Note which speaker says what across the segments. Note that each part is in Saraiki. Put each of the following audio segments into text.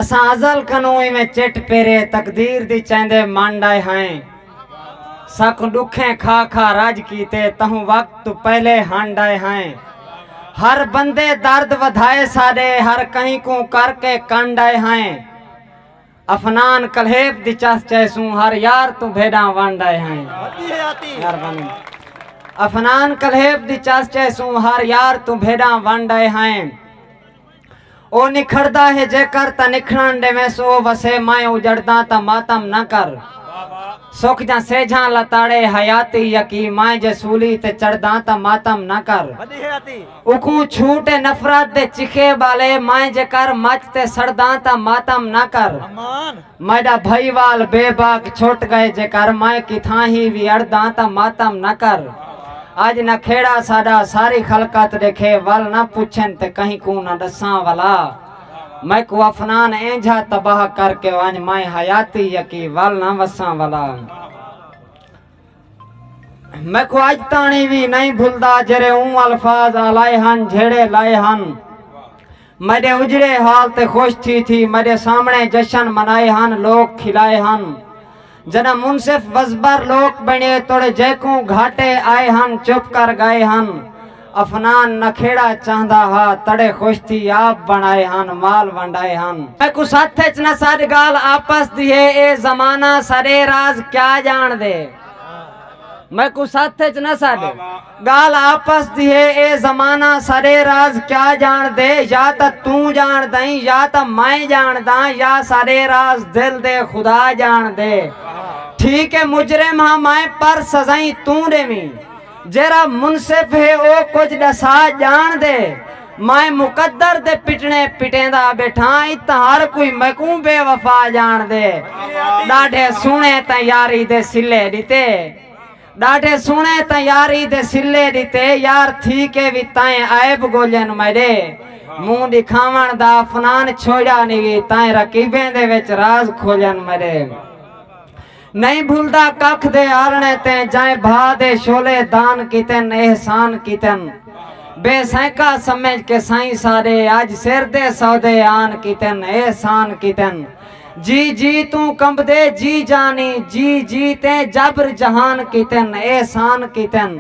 Speaker 1: اساں ازل کنوں ایویں چٹ پیرے تقدیر دی چیندے منڈ آئے ہائیں ساکوں ڈکھیں کھا کھا رج کیتے تہوں وقت تو پہلے ہنڈ آئے ہائیں ہر بندے درد ودھائے ساڈے ہر کہیں کوں کر کے کنڈ آئے ہائیں افنان کلہیپ دی چس چیسوں ہر یار تو بھیڈاں ونڈ آئے ہائیں مہربانی افنان کلہیپ دی چس چیسوں ہر یار تو بھیڈاں ونڈ آئے ہائیں او نکھڑدا ہے جیکر تاں نکھڑݨ ݙیویس او وسے میں اجڑداں تاں ماتم نہ کر سک جاں سیجھاں لتاڑے حیاتی یکی میں جے سولی تے چڑھداں تاں ماتم نہ کر اکوں چھوٹے نفرت دے چخے ٻالے میں جیکر مچ تے سڑداں تاں ماتم نہ کر میݙا بھائی وال بے باک چھٹ ڳئے جیکر میں کتھاں ہی وی اڑداں تاں ماتم نہ کر اڄ نہ کھیڑا ساݙا ساری خلقت ݙیکھے ول نہ پچھن تے کہیں کوں نہ ݙساں ولا میکوں افنان اینجھا تباہ کر کے ونڄ میں حیاتی یکی ول نہ وساں ولا۔ میکوں اج تاݨی وی نئیں بھلدا جیرھے اوں الفاظ آلائے ہن جھیڑھے لائے ہن میݙے اجڑے حال تے خوش تھی تھی میݙے سامھݨے جشن منائے ہن لوک کھلائے ہن جݙاں منصف وزبر لوک بݨیے توڑے جیکوں گھاٹے آئے ہن چپ کر ڳائے ہن افنان نہ کھیڑا چاہندا ہا تڑے خوش تھی آپ بنڑائے ہن مال ونڈائے ہن۔ میکوں ست اچ نہ سڈ گالھ آپس دی ہے اے زمانہ سڈے راز کیا جانڑ دے میکوں ست اچ نہ سڈ گالھ آپس دی ہے اے زمانہ سڈے راز کیا جانڑ دے یا تاں توں جانڑ دائیں یا تاں میں جانڑ داں یا سڈے راز دل دے خدا جانڑ دے ٹھیک اے مجرم ہاں میں پر سزائیں توں ڈیویں۔ جیرھا منصف ہے او کجھ ڈسا جان دے میں مقدر دے پٹنے پٹیندا بیٹھاں اتاں ہر کوئی میکوں بے وفا جان دے ڈاڈھے سونے تاں یاری دے سلے ڈتے ڈاڈھے سونے تاں یاری دے سلے ڈتے یار تھی کے وی تائیں عیب گولین میڈے منہ ڈکھاون دا افنان چھوڑیا نی وی تائیں رقیبیں دے وچ راز کھولین میڈے۔ نئیں بھلدا ککھ دے آرݨے تیں جئیں بھا دے شعلے دان کیتن احسان کیتن بے سینکا سمجھ کے سائیں ساݙے اڄ سر دے سودے آن کیتن احسان کیتن جی جی توں کمبدے جی جانی جی جی تیں جبر جہان کیتن احسان کیتن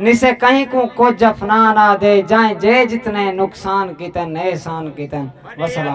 Speaker 1: نسے کہیں کوں کجھ افنان آدے جئیں جے جتنے نقصان کیتن احسان کیتن وسلام۔